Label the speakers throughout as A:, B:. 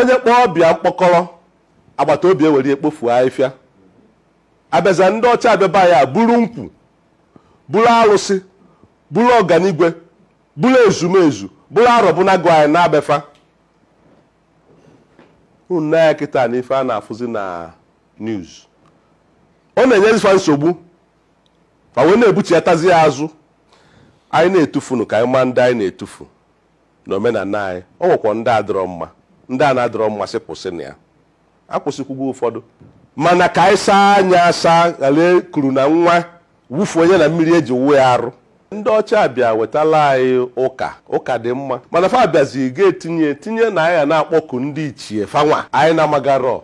A: onye kpọọ ọba ya mkpọkọrọ agbata obi ewere ya kpofuo afịfịa abịaza ndị ọcha abịa bịa buru nkwụ buru arụsị buru ọganigwe buru ezumezu buru arọbụnagụ anyị naa be fa unu nee anya kịta na ife a na-afụzi na news ọ na-enyezi fa nsogbu fa wee na-ebuchiatazi ya azụ anyị na-etufunu ka anyị maa ndị anyị na-etufu na omenana anyị ọ nwekwa ndị adịrọ mma ndị a na-adịrọ mma sị kwụsị nya akwụsịkwugo ụfọdụ mana ka anyị saa anya asa ghara ikuru na nwa wufuo nya na mmiri eji wụọ ya arụ ndị ọcha bịa wetala anyị ụka ụka dị mma mana fa bịazi ga-etinye tinye na anyị ga na-akpọku ndị ichie fanwa anyị na-amagarọ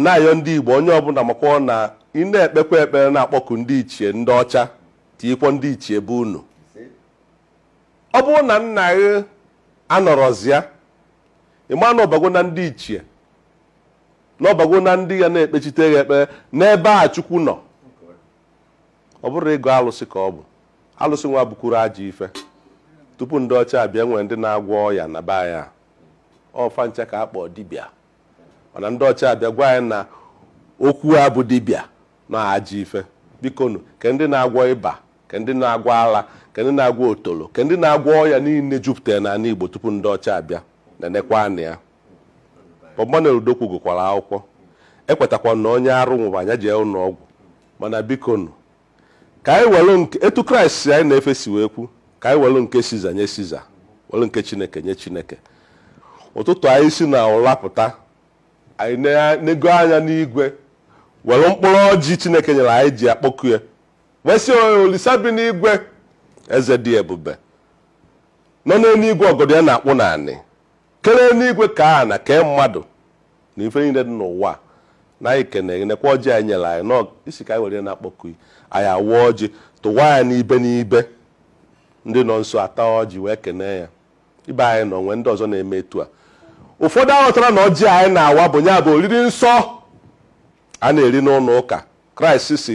A: na-ayọ ndị Igbo onye ọbụna makwọ na ị na-ekpekwa ekpere na-akpọku ndị ichie ndị ọcha tinyekwa ndị ichie be unu ọ bụrụ na nna gị anọrọzịa ị ma na ọ bago na ndị ichie na ọ bago na ndị ya na-ekpechite gị ekpere n'ebe a Chukwu nọ ọ bụrọ ịgọ alụsị ka ọ bụ alụsị nwa abụkwurọ ajọ ife tupu ndị ọcha abịa nwee ndị na-agwọ ọya na be anyị a ọ fa ncha ka a kpọọ dibịa mana ndị ọcha abịa gwa anyị na okwu a bụ dibịa na ajọ ife bikonu ke ndị na-agwọ ịba ke ndị na-agwọ ala ke ndị na-agwọ otolo ke ndị na-agwọ ọya niine jupụtara n'anị Igbo tupu ndị ọcha abịa na-enekwa anya Bob-Manuel Udokwu gụkwara akwụkwọ ekwetakwa na onye arụ nwụba ya jee ụnọ ọgwụ mana bikonu ka anyị were nke etu Kraịst anyị na-efe si wee kwu ka anyị were nke siza nye siza were nke chineke nye chineke ụtụtụ anyị si na ụra pụta anyị enego anya n'igwe were mkpụrụ ọjị chineke nyere anyị ji akpọku ya wee sị Olisa bi n'igwe eze dị ebube nọ n'enuigwe ọgọdọ ya na-akpụ n'anị kere enuigwe kee ana kee mmadụ na ife niile dị n'ụwa na anyị kene nekwa ọjị i nyere anyị sị ka anyị were na-akpọku i anyị awa ọjị tụwa ya n'ibe n'ibe ndị nọ nso ata ọjị wee kene ya ibe anyị nọ nwee ndị ọzọ na-eme etu a ụfọdụ aghọtarọ na ọjị anyị na-awa bụ ya bụ oriri nsọ a na-eri n'ụnọ ụka Kraịst sị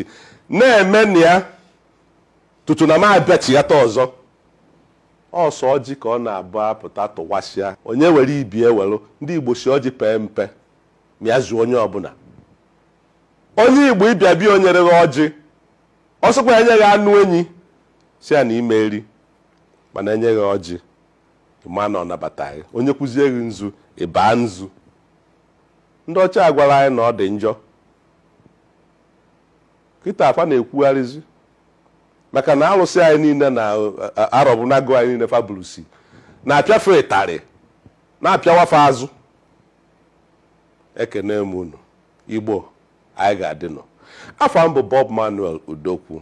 A: na-eme nya tutu na m abịachighata ọzọ ọ sọ ọjị ka ọ na-abụ apụta tụwasịa onye were ibe ewelụ ndị igbo sị ọjị pee mpe ma ya zuo onye ọbụna onye igbo ị bịa be ya o nyerọ gị ọjị ọ sịkwa enye gị anụ enyi sị ya na ị ma eri mana enye gị ọjị ị ma na ọ nabata gị o nyekwuzie gị nzu ị baa nzu ndị ọcha agwara anyị na ọ dị njọ kịtaa fa na-ekwugharịzi maka na alụsị anyị niine na arọbụnagụ anyị niine fa bulusi na-apịa fa ịtarị na-apịawa fa azụ ekene m unu igbo anyị ga-adịnụ afa m bụ bob manuel udokwu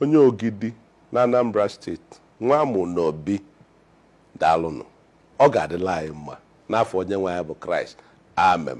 A: onye ogidi na anambra steeti nwa amụ n'obi daalụnụ ọ ga-adịlị anyị mma n'afa onye nwe anyị bụ kraịst amen